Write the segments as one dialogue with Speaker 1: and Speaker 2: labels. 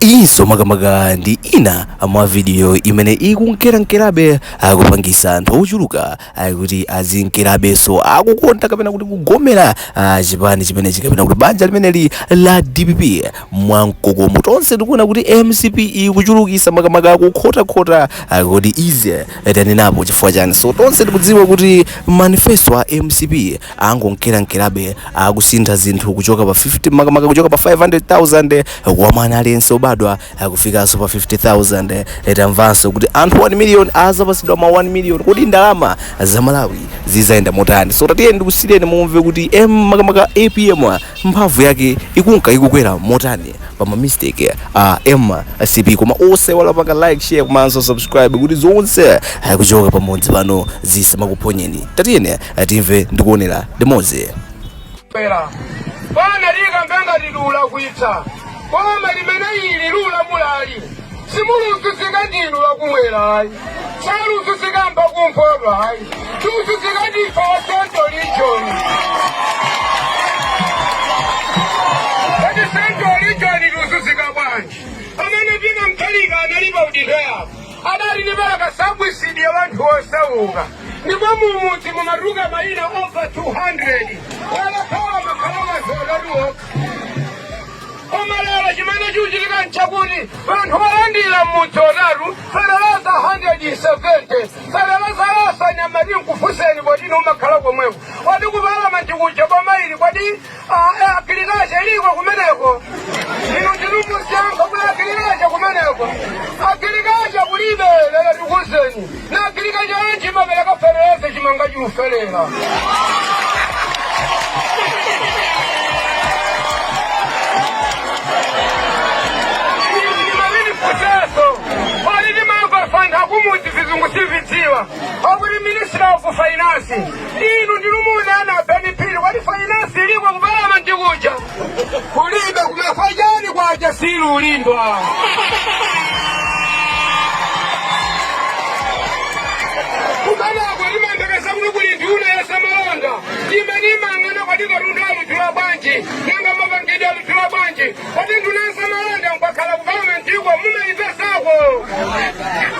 Speaker 1: Iyinso makamaka ndi ina mwa vidiyo imene ikunkerankerabe akupangisa anthu ochuluka kuti azinkerabenso akukonda kapena kuti kugomera ah, chipani chimenechi kapena kuti banja limeneli la dpp mwamkokomo tonse tikuona kuti mcp ikuchulukisa makamaka kukhotakhota ah, kodi izi tanenapo chifukwa chani so tonse tikudziwa kuti manifesto a mcp angonkerankerabe akusintha zinthu kuchoka pa 50 makamaka kuchoka pa 500,000 kwa mwana aliyense obadwa kufikanso pa 50,000 tamvanso kuti anthu 1 million azapasidwa ma 1 million kodi ndalama za malawi zizayenda motani so tatiyeni ndikusiyeni mumve kuti em makamaka apm mphamvu yake ikunka ikukwera motani pa ma mistake a mcp koma osaiwala kupanga like share komanso subscribe kuti zonse kuchoka pamodzi pano zisamakuphonyeni tatiyeni timve ndi kuonera limodzi pera bwana likambenji likudula kwitsa koma limene ili lula mulali simuluzuzika ndinu akumwera ayi saluzuzika mba kumpoto ayi tiuzuzika ndife wa central region kodi central region luzuzika bwanji amene tina mtalika analipa udindo yako adati ndi bwaka subsidy ya wanthu osauka ndipo mumudzi mumatuluka mayina oposa 200 walakhawa makhalamazi adali okha koma lero chimene chikuchitika nchakuti wanthu olandira mmudzi otatu feteleza 170 feteleza wosanyamati nkufuseni kodi inu mumakhala komweko kodi ku palamenti kuja boma ili kodi Ae agilikacha iliko kumeneko inu ndinu musankha kuti agilikacha kumeneko agilikacha kulibe lero tikuuzeni ndi agilikacha yanji imapereka feteleza chimanga chiufera m'maminda futenso pali ndimamva wanthu akumudzi vizungu sitividziwa akuti ministry of finance Inu ndinu munene abeni phiri kodi fainansi iliko ku palamenti kuja kulibe kumafa chani kwacha siluulindwa kumeneko timamvetsa kuti kuli nduna ya zamalonda imene imang'ana kodi katundu aludula bwanji nanga mapangidwe aludula bwanji Kodi nduna ya zamalonda mukakhala ku palamentiku munaipezako?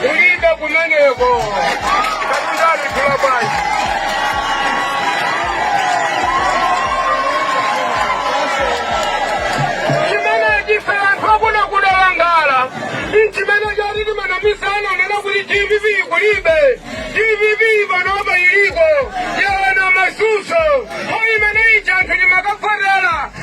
Speaker 1: Kulibe kumeneko. Katundu aludula bwanji. Chimene ife anthu akuno tudandaula nchimene choti timanamizana kunena kuti dpp kulibe. Dpp panopa iliko. Yaona mazunzo. Mmo imene ija anthu timakavotera